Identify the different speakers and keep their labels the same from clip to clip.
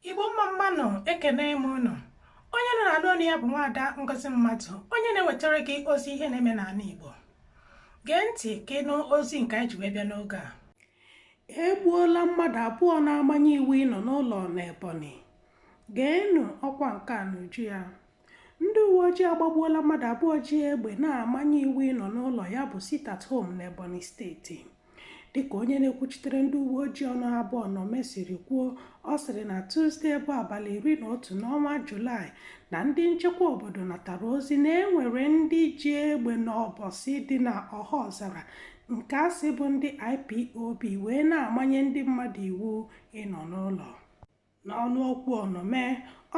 Speaker 1: igbo mma mma nụ ekene m unu onye unu na-anụ onu ya bụ nwaada ngozi mmadụ onye na-ewetara gị ozi ihe na-eme n'ala igbo gee ntị ka ị nụ ozi nke anyị ji wee bịa n'oge a e gbuola mmadụ abụọ na-amanye iwu ịnọ n'ụlọ n'ebonyi geenụ ọkwa nke a n'uju ya Ndị uweojii agbagbuola mmadụ abụọ ji egbe na-amanye iwu ịnọ n'ụlọ ya bụ sit at home n'Ebonyi steeti. Dịka onye na-ekwuchitere ndị uweojii ọnụ ha bụ Onome siri kwuo, ọ sịrị na Tuzde bụ abalị iri na otu n'ọnwa Julaị na ndị nchekwa obodo natara ozi na e nwere ndị ji egbe n'Ọkpọsị dị na Ọhaọzara nke a sị bụ ndị IPOB wee na-amanye ndị mmadụ iwu ịnọ n'ụlọ. N'ọnụ okwu Onome,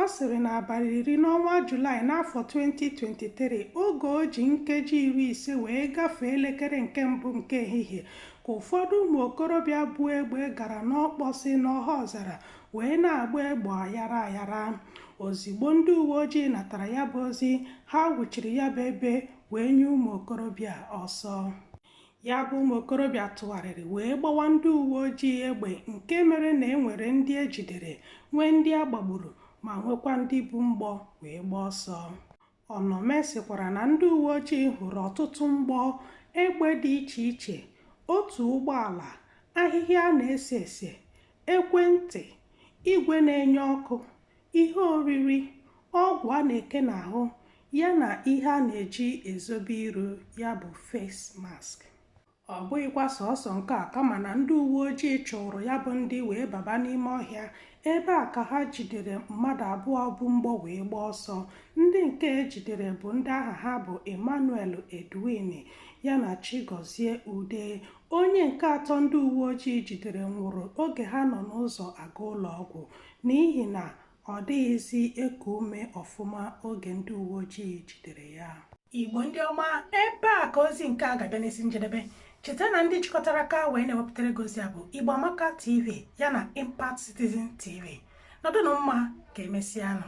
Speaker 1: ọ sịrị na abalị iri n'ọnwa Julaị n'afọ 2023 oge o ji nkeji iri ise wee gafee elekere nke mbụ nke ehihie ka ụfọdụ ụmụ okorobịa bu egbe gara n'Ọkpọsị n'Ọhaọzara wee na-agba egbe ayara ayara. Ozigbo ndị uwe ojii natara ya bụ ozi, ha wụchiri ya bụ ebe wee nye ụmụ okorobịa ọsọ. Ya bụ ụmụ okorobịa tụgharịrị wee gbawa ndị uwe ojii egbe nke mere na e nwere ndị e jidere, nwee ndị a gbagburu ma nwekwa ndị bu mgbọ wee gbaa ọsọ. Onome sịkwara na ndị uwe ojii hụrụ ọtụtụ mgbọ egbe dị iche iche, otu ụgbọala, ahịhịa a na-ese ese, ekwentị, igwe na-enye ọkụ, ihe oriri, ọgwụ a na-eke n'ahụ ya na ihe a na-eji ezobe iru ya bụ face mask. Ọ bụghịkwa sọọsọ nke a kama na ndị uwe ojii chụụrụ ya bụ ndị wee baba n'ime ọhịa. Ebe a ka ha jidere mmadụ abụọ bu mgbọ wee gbaa ọsọ. Ndị nke e jidere bụ ndị aha ha bụ Emmanuel Edwin ya na Chigozie Ude. Onye nke atọ ndị uwe ojii jidere nwụrụ oge ha nọ n'ụzọ aga ụlọ ọgwụ. n'ihi na ọ dịghịzi eku ume ọfụma oge ndị uweojii jidere ya. Igbo ndị ọma, ebe a ka ozi nke a ga-abịa n'isi njedebe. Cheta na ndị jikọtara aka wee na-ewepụtara gị ozi a bụ Igbo Amaka TV ya na Impact Citizen TV. Nọdụnụ mma ka emesịanụ.